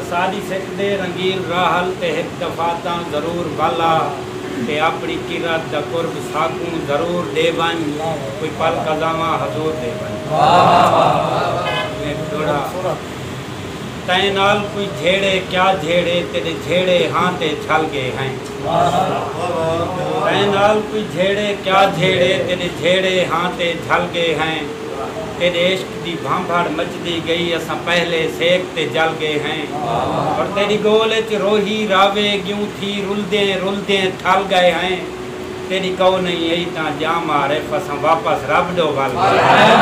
اساݙی سک دے رنگیل راحل تے ہک دفعہ تاں ضرور ول آ تے آپݨی کرت دا قرب ساکوں ضرور ݙے ونڄ کوئی پل قضاواں حضور ݙے ونڄ میں ݙوڑا تئیں نال کوئی جھیڑے کیا جھیڑے تیݙے جھیڑے ہاں تے جھل ڳے ہیں تئیں نال کوئی جھیڑے کیا جھیڑے تیݙے جھیڑے ہاں تے جھل ڳے ہیں تیݙے عشق دی بھانبھڑ مچدی گئی اساں پہلے سیک تے جل گئے ہیں اور تیڈی گول اچ روہی راوے گیوں تھی رلدیں رلدیں تھل گئے ہیں تیڈی کئو نہیں ائی تاں جام عارف اساں واپس رب ڈو ول گئے ہیں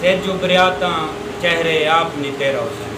سج ابھریا تاں چہرے آپ نتیرا ہوسی۔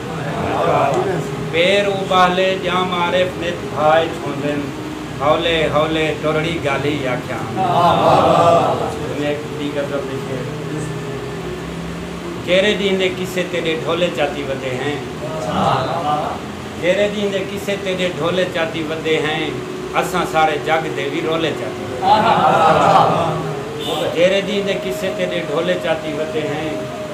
پیر اوٻالے جاں معارف نت بھا اچ ہوندن ہولے ہولے ٹرڑی گالھی آکھیا کیرے ݙینہہ دے قصے تیݙے ڈھولے چاتی ودے ہیں کیرے ݙینہہ دے قصے تیݙے ڈھولے چاتی ودے ہیں اساں سارے جگ دے وی رولے چاتی ودے ہیں کیرے ݙینہہ دے قصے تیݙے ڈھولے چاتی ودے ہیں۔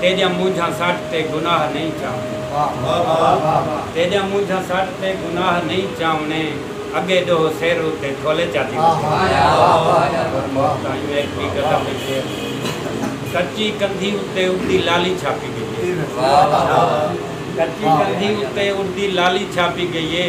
تیڈیاں مونجھاں سٹ تے گناہ نئیں چاونے۔ تیڈیاں مونجھاں سٹ تے گناہ نئیں چاونے۔ اگے ڈوہو سر اتے کھولے چاتی وجے۔ کچی کندھی اتے اڈدی لالی چھاپی گئی اے۔ کچی کندھی اتے اڈدی لالی چھاپی گئی اے۔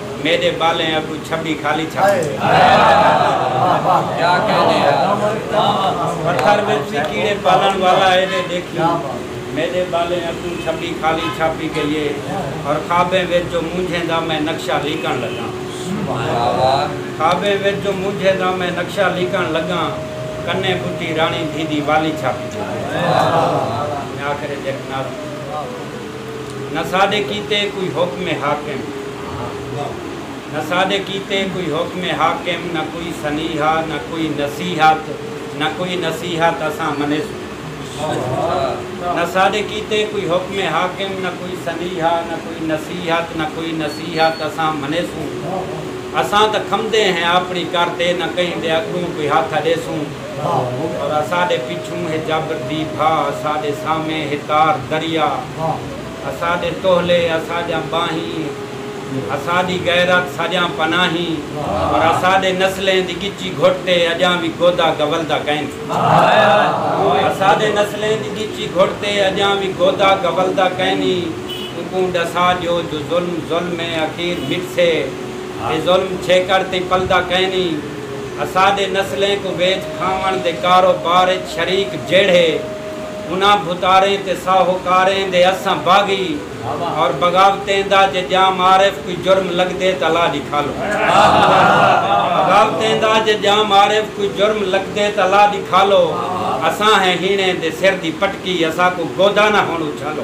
میݙے ٻالیں اڳوں چھٻی خالی چھاݨ دی پتھر وچ وی کیڑے پالݨ والا اے دے ݙیکھیں میݙے ٻالیں اڳوں چھٻی خالی چھاپی ڳئی اے اور خوابیں وچ جو مونجھیں دا میں نقشہ لیکݨ لڳاں خوابیں وچ جو مونجھیں دا میں نقشہ لیکݨ لڳاں کنیں ٻڈھی راݨی دھی دی والی چھاپی ڳئی اے میں آخر اچ ہک نعت نہ ساݙے کیتے کوئی حکم حاکم نہ ساݙے کیتے کوئی حکم حاکم نہ کوئی سنیہا نہ کوئی نصیحت نہ کوئی نصیحت اساں منیسوں نہ ساݙے کیتے کوئی حکم حاکم نہ کوئی سنیہا نہ کوئی نصیحت نہ کوئی نصیحت اساں منیسوں اساں تاں کھمدے ہیں آپݨی کر تے نہ کہیں دے اڳوں کوئی ہتھ اݙیسوں۔ اساݙے پچھوں ہے جبر دی بھا اساݙے سامھے ہے تار دریا اساݙے تولھے اساݙیاں ٻانہیں اساݙی غیرت ساݙیاں پناہیں پر اساݙے نسلیں دی ڳچی گھٹ تے اڄاں وی گودا گولدا کیندے اساݙے نسلیں دی ڳچی گھٹ تے اڄاں وی گودا گولدا کینی اونکوں ݙسا ݙیو جو ظلم ظلم ہے اخیر مٹھسے۔ اے ظلم چھیکڑ تئیں پلدا کائنی۔ اساڈے نسلیں کوں ویچ کھاونڑ دے کارو بار اچ شریک جیڑھے انہاں بھتاریں تے ساہوکاریں دے اساں باغی اور بغاوتیں دا جے جام عارف کوئی جرم لگدے تاں لا ڈکھالو۔ بغاوتیں دا جے جام عارف کوئی جرم لگدے تاں لا ڈکھالو۔ اساں ہیں ہینے دے سر دی پٹکی اساکوں گودا نہ ہنڑ اچھالو۔